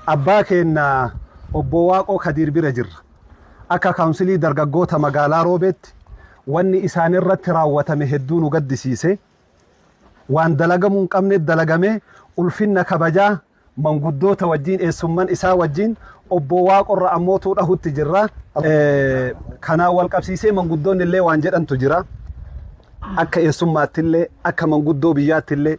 Abbaa keenna Obbo Waaqoo Kadiir bira jirra. Akka Kaawunsilii Dargaggoota Magaalaa Roobeetti wanni isaan irratti raawwatame hedduu nu gaddisiise. Waan dalagamuu hin qabne dalagame, ulfinna kabajaa manguddoota wajjiin, eessumman isaa wajjiin Obbo Waaqo irra ammootuu dhahutti jirra. Kanaan wal qabsiisee manguddoonni illee waan jedhantu jira. Akka eessummaatti illee, akka manguddoo biyyaatti illee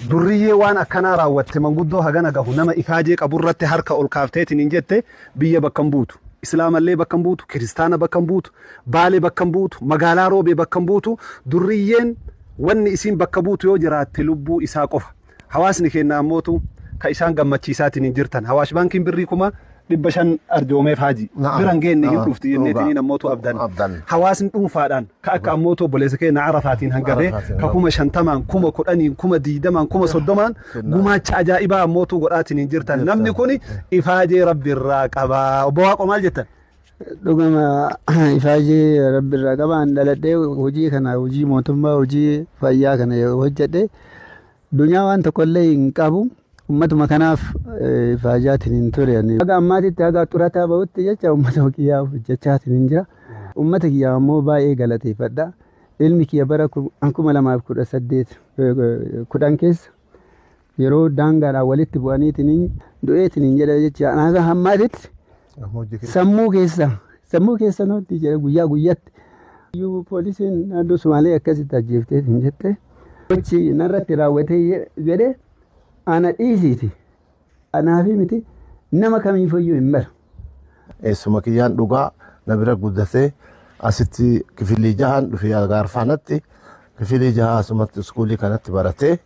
Durriyyee waan akkanaa raawwatte manguddoo hagana gahu nama ifaajee qaburratti harka ol kaaftee itiniin jette biyya bakka hin buutu. Islaamallee bakka hin buutu, kiristaana bakka hin buutu, Baale bakka hin buutu, magaalaa Roobee bakka hin buutu, durriyyeen wanni isiin bakka buutu yoo jiraatte lubbuu isaa qofa. Hawaasni keenna ammootu ka isaan gammachiisaa itiniin jirtan. Hawaash Baankiin birrii kuma dhibba shan arjoomeef haaji Na'am. bira hin geenne hin Na'am. dhufti jenneetiin Dhugaa. namoota abdan Abdan. hawaasni dhuunfaadhaan ka akka ammootu obboleessa keenya arafaatiin hanga bee Arafaatiin, ka kuma shantamaan kuma kudhaniin kuma diidamaan kuma soddomaan Kennaa. gumaacha ajaa'ibaa ammootu godhaatiin hin jirtan Jirtan. namni kun ifaajee rabbi irraa qaba obbo Waaqo maal jettan dhugama ifaajee rabbi irraa qabaan dhaladhee hojii kana hojii mootummaa hojii fayyaa kana yoo hojjedhe Dunyaa waan tokkollee hin qabu. Ummatuma kanaaf faayidaatiin hin ture. Haga ammaatitti haga xurataa bahutti jecha ummata kiyyaaf hojjechaatiin hin jira. Ummata kiyyaaf ammoo baay'ee galateeffadha. Ilmi kiyya bara kuma lamaaf kudha saddeet kudhan keessa yeroo daangaadhaan walitti bu'aniitiin du'eetiin hin jedha jecha haga ammaatitti Amma hojii keessa. Sammuu keessa sammuu keessa nutti jira guyyaa guyyatti. Iyyuu poolisiin naannoo Sumaalee akkasitti ajjeeftee hin jette. Gochi narratti raawwatee je- jedhe ana dhiisiiti. Anaafi miti nama kamiifayyuu hin maru. Eessuma kiyyaan dhugaa na bira guddatee asitti kifilii jahaan dhufee gaarfaanatti kifilii jahaa asumatti iskuulii kanatti baratee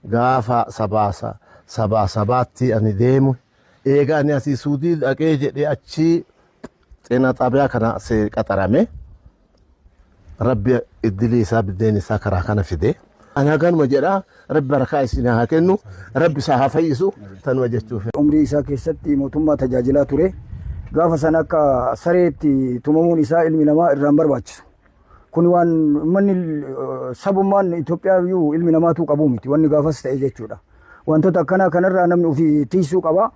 gaafa sabaa sa- sabaa sabaatti ani deemu Eega ani asii Suudii dhaqee jedhee achii xeenaa xaabiyaa kana see qaxarame. Rabbi iddilii isaa biddeen isaa karaa kana fide. Ani haganuma jedhaa rabbi barakaa isin haa kennu rabbi isaa haa fayyisu tanuma jechuuf. Umrii isaa keessatti mootummaa tajaajilaa ture. Gaafa sana akka sareetti tumamuun isaa ilmi namaa irraan barbaachisu. Kun waan manni sabummaan Itoophiyaa iyyuu ilmi namaatuu qabuu miti wanni gaafas ta'e jechuudha. Wantoota akkanaa kanarraa namni ofii tiisuu qaba.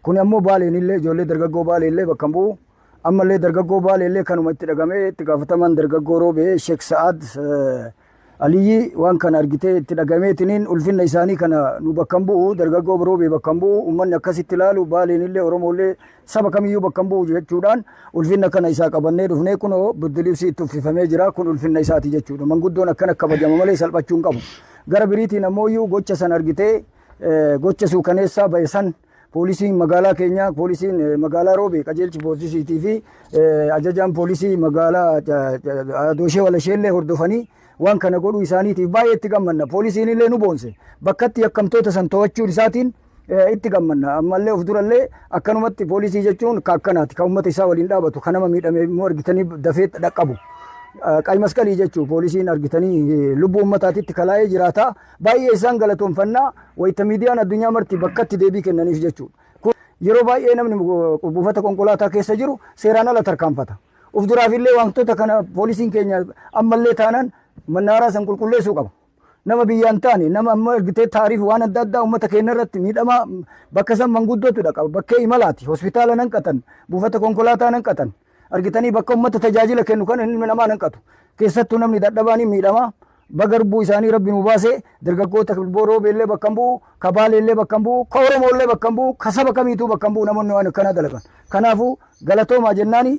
Kun ammoo baaleen illee ijoollee dargaggoo baalee illee bakka hin bu'u. Ammallee dargaggoo baalee illee kanuma itti dhagamee itti gaafatamaan dargaggoo roobee Sheek Sa'aad Aliyyi waan kana argitee itti dhagameetiniin ulfinna isaanii kana nu bakkan bu'u dargaggoo biroobee bakkan bu'u ummanni akkasitti ilaalu baaleenillee oromoollee saba kamiyyuu bakkan bu'u jechuudhaan ulfinna kana isaa qabannee dhufnee kunoo birdilibsii itti uffifamee jira kun ulfinna isaati jechuudha manguddoon akkana kabajama malee salphachuu hin qabu gara biriitiin ammoo iyyuu gocha san argitee gocha suukaneessaa ba'e san Poolisiin magaalaa keenyaa, poolisiin eh, magaalaa Roobee, qajeelchi poolisiitii fi eh, ajajaan poolisii magaalaa eh, Dooshee Walasheellee hordofanii waan kana godhuu isaaniitiif baay'ee itti gammanna. Poolisiin illee nu boonse. Bakkatti yakkamtoota san to'achuun isaatiin eh, itti gammanna. Ammallee of durallee akkanumatti poolisii jechuun ka akkanaati. Kan uummata isaa waliin dhaabatu, kan nama miidhame immoo argitanii dafee dhaqqabu. Eh, Qayi masqalii jechuun poolisiin argitanii eh, lubbuu uummataatitti kalaa'ee jiraata. Baay'ee isaan galatoomfanna wayita miidiyaan addunyaa marti bakkatti deebii kennaniif jechuudha. Kun yeroo baay'ee namni buufata konkolaataa keessa jiru seeraan ala tarkaanfata. Uf duraafillee wantoota kana poolisiin keenya ammallee taanaan mannaaraa san qulqulleessuu qaba. Nama biyyaan taane nama amma argitee taariif waan adda addaa uummata keenya irratti miidhamaa bakka san manguddootu dhaqa bakkee imalaati hospitaala nan qatan buufata konkolaataa nan qatan argitanii bakka uummata tajaajila kennu kan inni namaa nan qatu keessattuu namni dadhabaan miidhamaa Baga lubbuu isaanii Rabbi nuu baase, dargaggoota Kilboo Roobee illee bakka hin bu'u, ka Baalee illee bakka hin bu'u, ka Oromoo illee bakka hin bu'u, ka saba kamiituu bakka hin bu'u namoonni waan akkanaa dalagan. Kanaafuu galatoomaa jennaani.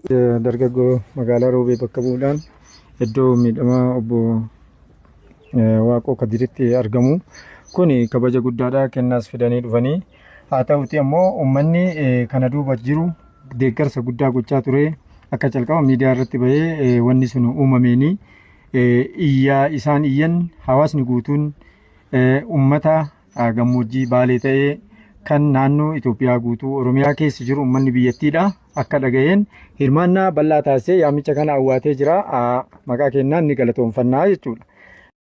Dargaggoo magaalaa Roobee bakka bu'uudhaan iddoo miidhamaa obbo Waaqoo Kadiritti argamu. Kun kabaja guddaadha kennaas fidanii dhufanii. Haa ta'uti ammoo uummanni kana duuba jiru deeggarsa guddaa gochaa ture akka calqaba miidiyaa irratti bahee wanni sun uumameenii. iyyaa isaan iyyan hawaasni guutuun ummata gammoojjii baalee ta'ee kan naannoo Itoophiyaa guutuu Oromiyaa keessa jiru ummanni biyyattiidha akka dhaga'een hirmaannaa bal'aa taasisee yaamicha kana awwaatee jira maqaa kennaan ni galatoomfannaa jechuudha.